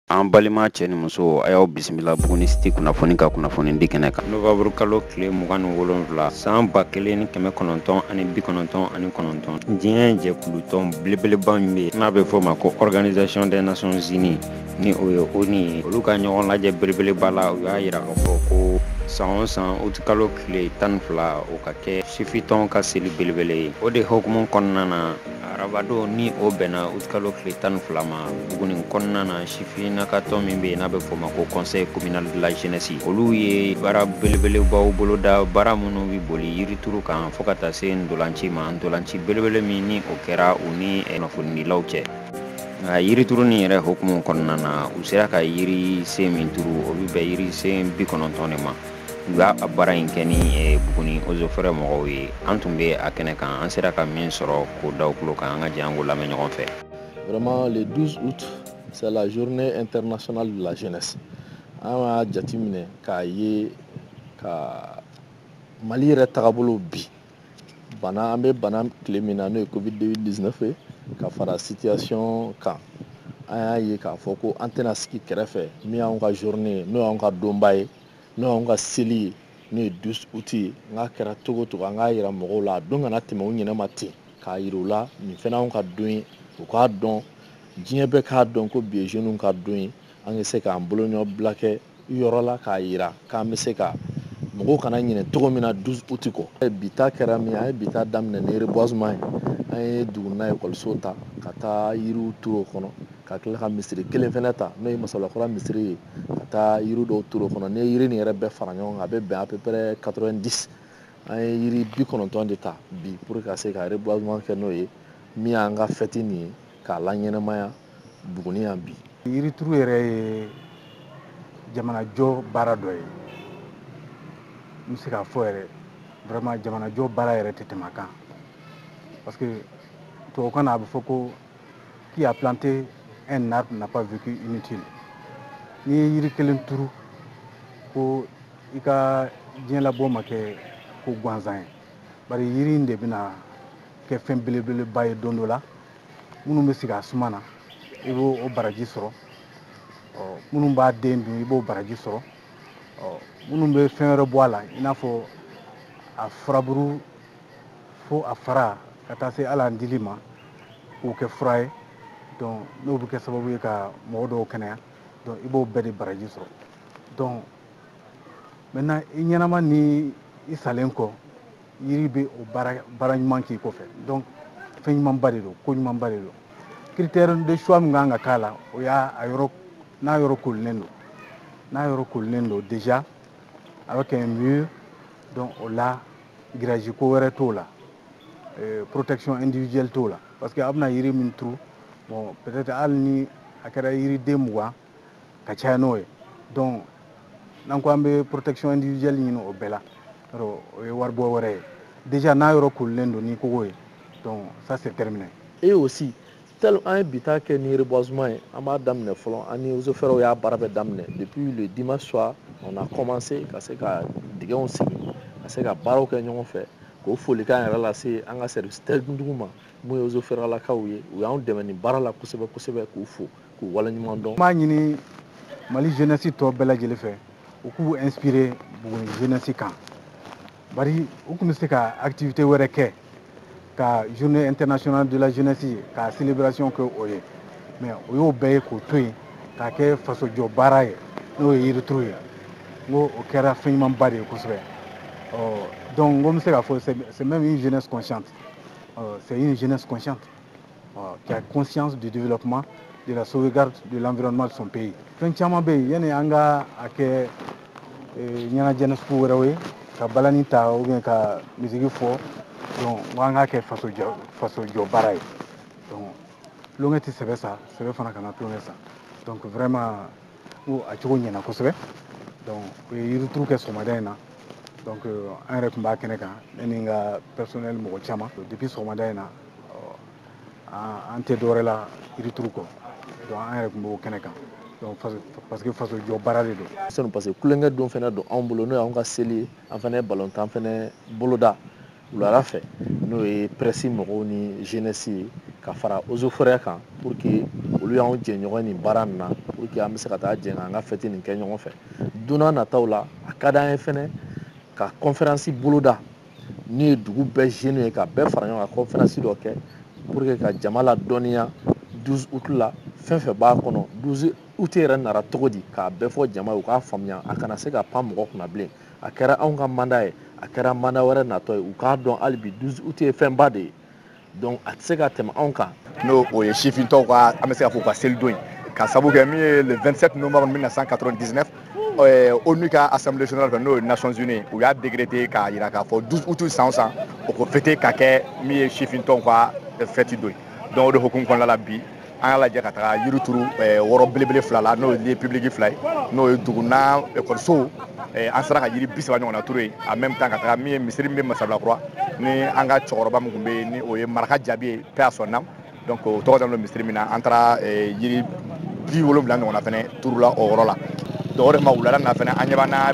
An balima cɛ ni muso a y'aw bisimila Buguni City kunnafoni ka kunnafoni di kɛnɛ kan. Novembre kalo tile mugan ni wolonwula san ba kelen ni kɛmɛ kɔnɔntɔn ani bi kɔnɔntɔn ani kɔnɔntɔn diɲɛ jɛkulutɔn belebeleba min bɛ n'a bɛ fɔ ma ko Organisation des Nations Unies ni o ye ONU ye olu ka ɲɔgɔn lajɛ belebeleba la u y'a yira k'a fɔ ko san o san uti kalo tile tan ni fila o ka kɛ sifintɔn ka seli belebele ye o de hukumu kɔnɔna na arabadon ni o bɛnna utkalo tile tan ni fila ma buguni kɔnɔna na sifin na ka tɔn min bɛ yen n'a bɛ fɔ ma ko conseil communal de la jeunesse olu ye baara belebelebaw boloda baara minnu bɛ boli yirituru kan fo ka taa se ntolanci ma ntolanci belebele min ni o kɛra u ni kunnafonidilaw cɛ nka yirituru nin yɛrɛ hukumu kɔnɔna na u sera ka yiri sen min turu o bɛ bɛn yiri sen bi kɔnɔntɔn de ma u y'a baara in kɛ ni eh, buguni Eaux et Forêts mɔgɔw ye an tun bɛ a kɛnɛ kan an sera ka min sɔrɔ k'o da aw tulo kan an ka jɛ an k'o lamɛn ɲɔgɔn fɛ vraiment le 12 août c'est la journée internationale de la jeunesse an y'a jateminɛ k'a ye ka mali yɛrɛ tagabolo bi bana an bɛ bana tile min na n'o ye covid 19 ye ka fara situation kan an y'a ye k'a fɔ ko an tɛna sigi kɛrɛfɛ min y'anw ka journée ye n'o y'anw ka donba ye n'o y'anw ka seli ye n'o ye 12 août ye nka a kɛra cogo o cogo an k'a yira mɔgɔw la a don kana tɛmɛ u ɲinɛ ma ten k'a yira u la nin fɛnɛ anw ka don ye u k'a dɔn diɲɛ bɛɛ k'a dɔn ko bi ye jeunes ka don ye an bɛ se k'an bolonɔbila kɛ yɔrɔ la k'a yira k'an bɛ se ka mɔgɔw kana ɲinɛ cogo min na 12 août kɔ bi ta kɛra min an ye bi ta daminɛ ni reboisement ye an ye dugunina ekɔliso ta ka taa yiriw turu o kɔnɔ ka tila ka misiri kelen fɛnɛ ta n'o ye masablakura misiri ye ka taa yiri dɔw turu o kɔnɔ n'i ye yiri nin yɛrɛ bɛɛ fara ɲɔgɔn kan a bɛ bɛn à peu près 90 an ye yiri bi kɔnɔntɔn de ta bi pour ka se ka reboisement kɛ n'o ye min y'an ka fɛti nin ye k'a laɲɛnamaya buguni yan bi yirituru yɛrɛ ye jamanajɔ baara dɔ ye n bɛ se k'a fɔ yɛrɛ vraiment jamanajɔ baara yɛrɛ tɛ tɛmɛ a kan parce que tubabukan na a bɛ fɔ ko qui a planté un arbre n'a pas vécu inutile n'i ye yiri kelen turu ko i ka diɲɛlabɔ ma kɛ ko gansan ye bari yiri in de bɛna kɛ fɛn belebeleba ye don dɔ la minnu bɛ sigi a suma na i b'o baraji sɔrɔ minnu b'a den dun i b'o baraji sɔrɔ minnu bɛ fɛn wɛrɛ bɔ a la i n'a fɔ a furaburu fo a fara ka taa se hali a dili ma k'o kɛ fura ye donc n'o bɛ kɛ sababu ye ka mɔgɔ dɔw kɛnɛya donc i b'o bɛɛ de baraji sɔrɔ donc maintenant i ɲɛnama ni i salen kɔ yiri bɛ o baara baara ɲuman k'i kɔfɛ donc fɛn ɲumanba de don ko ɲumanba de don critère de choix min ka kan ka k'a la o y'a a yɔrɔ n'a yɔrɔ koolilen don n'a yɔrɔ koolilen don déjà avec un mur donc o la grillage ko wɛrɛ t'o la eh, protection individuelle t'o la parce que a bɛna yiri min turu bon peut-être hali ni a kɛra yiriden mugan ka caya n'o ye donc n'an ko an bɛ protection individuelle ɲini o bɛɛ la yɔrɔ o ye waribɔ wɛrɛ ye déjà n'a yɔrɔ koolilen don ni kogo ye donc ça c'est terminé et aussi tel an ye bi ta kɛ ni reboisement ye an b'a daminɛ fɔlɔ an ni eaux et forêts y'a baara bɛɛ daminɛ depuis le dimanche soir on a commencé ka se ka dingɛw sigi ka se ka baaraw kɛ ɲɔgɔn fɛ k'o folikan yɛrɛ lase an ka service techniquew ma mun ye eaux et forêts lakaw ye u y'an dɛmɛ nin baara la kosɛbɛ kosɛbɛ k'u fo k'u waleɲuman dɔn. n b'a ɲini mali jeunesse tɔ bɛɛ lajɛlen fɛ u k'u inspire buguni jeunesse kan. bari u tun bɛ se ka activité wɛrɛ kɛ ka journée internationale de la jeunesse ka célébration kɛ o ye mais u y'o bɛɛ ye k'o to yen k'a kɛ fasojɔ baara ye n'o ye yirituru ye n ko o kɛra fɛn ɲumanba de ye kosɛbɛ donc n ko n bɛ se k'a fɔ c'est même une jeunesse consciente c'est une jeunesse consciente qui a conscience du développement de la sauvegarde de l'environnement de son pays fɛn caman bɛ yen yanni an ka a kɛ eh, ɲɛnajɛ sugu wɛrɛw ye ka balani ta ou bien ka musique fɔ donc n ko an k'a kɛ faso jɔ faso jɔ baara ye donc tulonkɛ tɛ sɛbɛ sa sɛbɛ fana kana tulonkɛ sa donc vraiment n ko a cogo ɲɛna kosɛbɛ donc u ye yirituru kɛ sɔgɔmada in na donc an yɛrɛ tun b'a kɛnɛ kan ne ni n ka personnel mɔgɔ caman depuis sɔgɔmada in na an tɛ dɔwɛrɛ la yirituru kɔ an yɛrɛ tun b'o kɛnɛ kan parce que faso jɔ baara de don sanu parce que tulonkɛ don fana don anw bolo n'o y'an ka seli ye an fana balontan fana boloda wulada fɛ n'o ye presse mɔgɔw ni jeunesse ye ka fara eaux et forêts kan pour que olu y'anw jɛɲɔgɔn nin baara nin na pour que an bɛ se ka taa jɛ k'an ka fɛti nin kɛ ɲɔgɔn fɛ don nataw la a ka d'an ye fana ka conférence boloda n'o ye dugu bɛɛ jeunew ye ka bɛɛ fara ɲɔgɔn kan conférence dɔ kɛ pour que ka jama ladɔnniya 12 août la fɛn fɛn b'a kɔnɔ 12 août yɛrɛ nara cogo di k'a bɛɛ fɔ jama ye u k'a faamuya a kana se ka pan mɔgɔ kunna bilen a kɛra anw ka mandat ye a kɛra mandat wɛrɛ natɔ ye u k'a dɔn hali bi 12 août ye fɛnba de ye donc a tɛ se ka tɛmɛ anw kan n'o ye sifintɔw ka an bɛ se ka fɔ u ka selidon ye k'a sabu kɛ min ye le 27 novembre 1999 onu ka assemblée générale fɛ n'o ye nations unies u y'a décrété k'a yira k'a fɔ 12 août san o san u ko fɛti ka kɛ min ye sifintɔw ka fɛti don ye donc o de hukumu kɔnɔna la bi an y'a lajɛ ka taga yiri turu eh, yɔrɔ belebele fila la n'o ye publiki fila ye n'o ye dugunan ekɔlisow eh, an sera ka yiri bi saba ɲɔgɔnna turu yen en même temps ka taga min ye misiri min bɛ masabilakura ni an ka cɛkɔrɔba min tun bɛ yen ni o ye maraka jaabi ye paix à son âme donc o tɔgɔ dalen don misiri min na an taara eh, yiri bi wolonfila ɲɔgɔnna fɛnɛ turula o yɔrɔ la donc o de ma wulada na fɛnɛ an bɛna na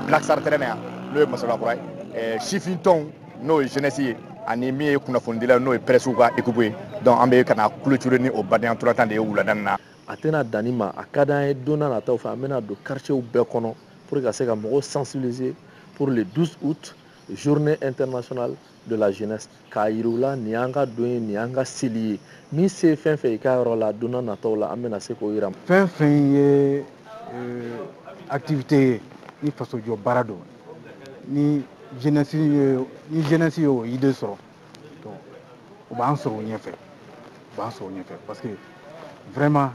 black star tɛrɛn na yan n'o ye masabilakura ye sifintɔnw n'o ye jeunesse ye ani min ye kunnafonidila n'o ye presse ka équipe ye donc an bɛ ka na clôturer ni o badenya ntolantan de ye wulada nin na a tɛna dan nin ma a ka d'an ye don n'a nataw fɛ an bɛna don quartierw bɛɛ kɔnɔ pour ka se ka mɔgɔw sensibiliser pour le 12 août journée internationale de la jeunesse k'a yira u la nin y'an ka don ye nin y'an ka seli ye min se fɛn fɛn i ka yɔrɔ la don n'a nataw la an bɛna se k'o yira fɛn fɛn ye euh, activité ye ni fasojɔ baara don ni jeunesse ye ni jeunesse y'o idée sɔrɔ donc u b'an sɔrɔ u ɲɛfɛ u b'an sɔrɔ u ɲɛfɛ parce que vraiment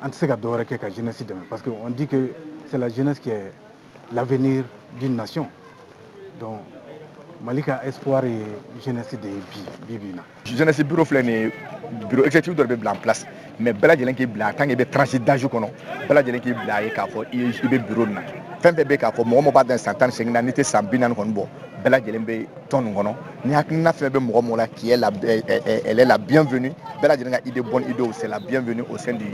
an tɛ se ka dɔwɛrɛ kɛ ka jeunesse dɛmɛ parce que on dit que c'est la jeunesse qui est l'avenir d'une nation donc mali ka espoir ye jeunesse de ye bi bi bi in na jeunesse bureau filɛ nin bureau exécutif dɔ de bɛ bila en place mais bɛɛ lajɛlen k'i bila tant que i bɛ tranche d'âge kɔnɔ bɛɛ lajɛlen k'i bila ye k'a fɔ i bɛ bureau nin na fɛn bɛɛ bɛ k'a fɔ mɔgɔ mɔgɔ b'a dan san tan ni seegin na n'i tɛ san bi naani kɔni bɔ bɛɛ lajɛlen bɛ tɔn nin kɔnɔ ni hakilina fɛn bɛ mɔgɔ mɔgɔ la qui est la elle est la bienvenue bɛɛ lajɛlen ka idée bonne idée c'est la bienvenue au sein du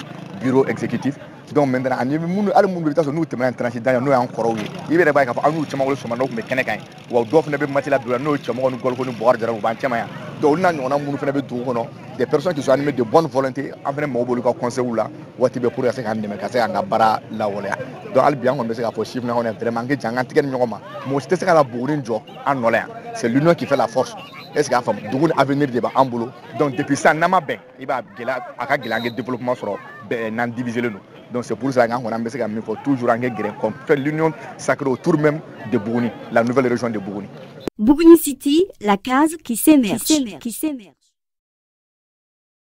bureau exécutif donc maintenant ani minnu hali minnu bɛ yen i bɛ t'a sɔrɔ n'u tɛmɛna tranche d'âge n'o y'an kɔrɔw ye i yɛrɛ b'a ye k'a fɔ an n'u caman wolo sɔgɔma n'o tun bɛ kɛnɛ kan yen wa dɔw fana bɛ matila bila n'o ye cɛmɔgɔ ni gɔliko ni bɔgɔ jara u b'an cɛma yan donc olu n'a ɲɔgɔnna minnu fana bɛ dugu kɔnɔ des personnes qui sont animées de bonne volonté an fana mago b'olu ka conseils la waati bɛɛ pour ka se k'an dɛmɛ ka se k'an ka baara lawaleya donc hali bi an kɔni bɛ se k'a fɔ sifinnakaw ɲɛna vraiment an k'i jija an k'an tɛgɛ di ɲɔgɔn ma mɔgɔ si tɛ se ka na buguni jɔ an nɔ la yan c'est l'union qui fait la force est ce que i y'a faamu dugu nin avenir de b'an bolo donc depuis sisan n'an ma bɛn i b'a gɛlɛya a ka gɛlɛn an ka développement sɔrɔ n'an diviserlen don donc c'est pour ça qu'an kɔni an bɛ se ka min fɔ toujours an k'i gɛrɛ qu'on fait l'union sacrée autour même de Buguni la nouvelle région de Buguni Buguni City la case qui s'émerge qui s'émerge